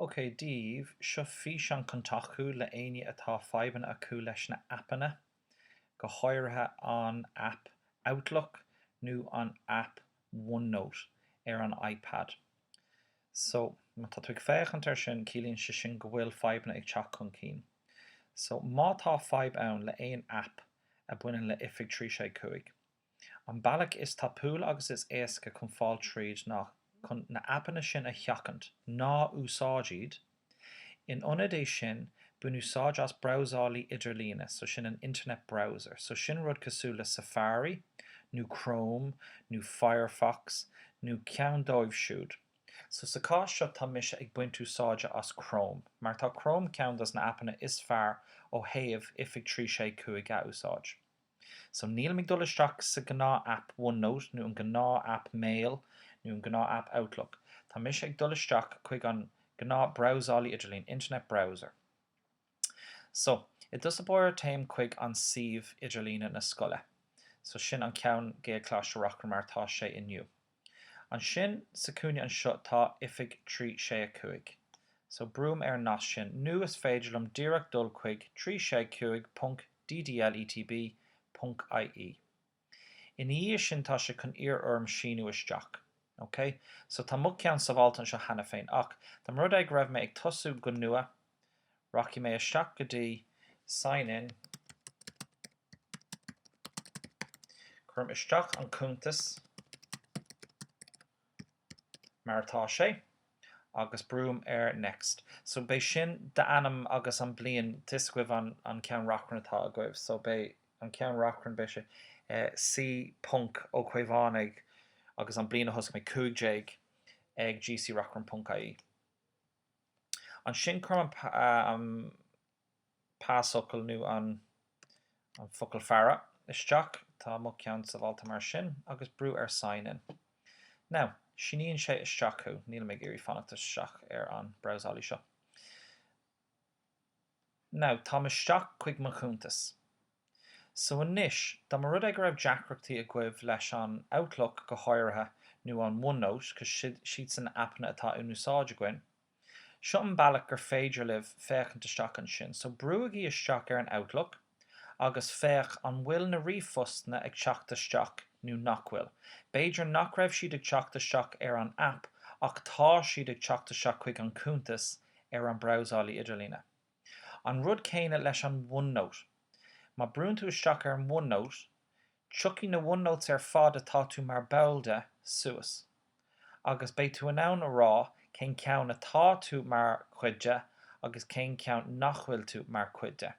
OK daoibh, seo físeán chun tacú le éinne atá fadhbanna acu leis na aipeanna, go háirithe an aip Outlook nó an aip OneNote ar an iPad. So, má tá tú ag féachaint ar sin, ciallaíonn sé sin go bhfuil fadhbanna ag teacht chun cinn. So, má tá fadhb ann le aon aip a bhaineann le oifig 365, An bealach is tapúla agus is éasca chun fáil tríd ná chun na aipeanna sin a sheachaint, ná úsáid iad! In ionad é sin, bain úsáid as brabhsálaí idirlíne, so sin an internet browser, so sin rud cosúil le Safari, nó Chrome, nó Firefox, nó ceann dóibh siúd. So sa chás seo tá mise ag baint úsáide as Chrome, mar tá Chrome ceann dos na aipeanna is fearr ó thaobh oifig 365 a úsáid. So nílim ag dul isteach sa gnáth aip OneNote nó an gnáth aip Mail nó an gnáth aip Outlook. Tá mise ag dul isteach chuig an gnáth brabhsálaí idirlíne, internet browser. So i dtús báire téim chuig an suíomh idirlíne na scoile. So sin an ceann Gaelcholáiste Reachrann mar atá sé inniu. Ansin sa cúinne anseo tá oifig 3 6 5. So brúim ar an nasc sin nó is féidir liom díreach dul chuig 3 6 5 ponc DDL ETB ponc IE. Ina dhiaidh sin tá sé chun iarr orm síniú isteach. Ok? So tá mo cheann sábháilte anseo cheana féin ach, dá mba rud é go raibh mé ag tosú go nua, Rachaidh mé isteach go dtí Sign in. Cuirim isteach an cuntas mar atá sé agus brúim ar Next. So beidh sin d'ainm agus an bliain tá a fhios agaibh an ceann reachrann atá agaibh. So beidh an ceann reachrann, beidh sé C ponc Ó Caomhánaigh agus an bliain a thosaigh mé, 15, ag gcreachrann.ie. Ansin cuirim an pasfhocal nó an focal faire isteach, tá mo cheann sábháilte mar sin, agus brú ar Sign In. Now, síníonn sé isteach thú, nílim ag iarraidh fanacht isteach ar an brabhsálaí seo. Now, táim isteach chuig mo chuntas. So anois, dá mba rud é go raibh deacrachtaí agaibh leis an Outlook go háirithe nó an OneNote cos siadsan aipeanna atá in úsáid againn, seo an bealach gur féidir libh féachaint isteach ansin. So brúigí isteach ar an Outlook. agus féach an bhfuil na ríomhphostanna ag teacht isteach nó nach bhfuil. B'fhéidir nach raibh siad ag teacht isteach ar an aip ach tá siad ag teacht isteach chuig an cuntas ar an brabhsálaí idirlíne. An rud céanna leis an OneNote. Má brúnn tú isteach ar an OneNote, Tiocfaidh na OneNotes ar fad atá tú mar ball de suas agus beidh tú in ann a rá cén ceann atá tú mar chuid de agus cén ceann nach bhfuil tú mar chuid de.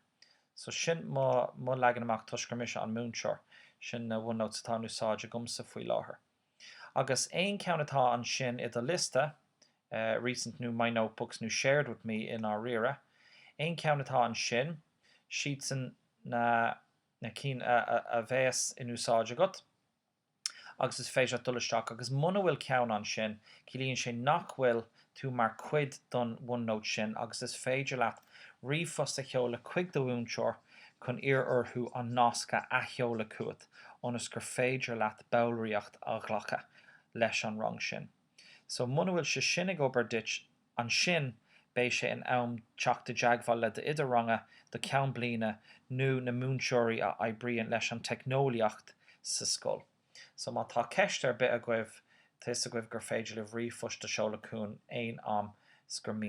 So sin mo leagan amach toisc gur mise an múinteoir. Sin na OneNotes atá in úsáid agamsa faoi láthair. Agus aon ceann atá ansin i do liosta, recent nó my notebooks nó shared with me i ndáiríre, aon ceann atá ansin, 's iad sin na na cinn a bheas in úsáid agat agus is féidir leat dul isteach agus muna bhfuil ceann ansin ciallaíonn sé nach bhfuil tú mar chuid don OneNote sin agus is féidir leat ríomhphost a sheoladh chuig do mhúinteoir chun iarraidh orthu an nasc a athsheoladh chugat ionas gur féidir leat ballraíocht a ghlacadh leis an rang sin. So muna bhfuil sé sin ag obair duit Ansin, beidh sé in am teacht i dteagmháil le d'oide ranga, do cheann bliana nó na múinteoirí a oibríonn leis an teicneolaíocht sa scoil. So má tá ceist ar bith agaibh, tá a fhios agaibh gur féidir libh ríomhphost a sheoladh chugainn aon am 's gur mian.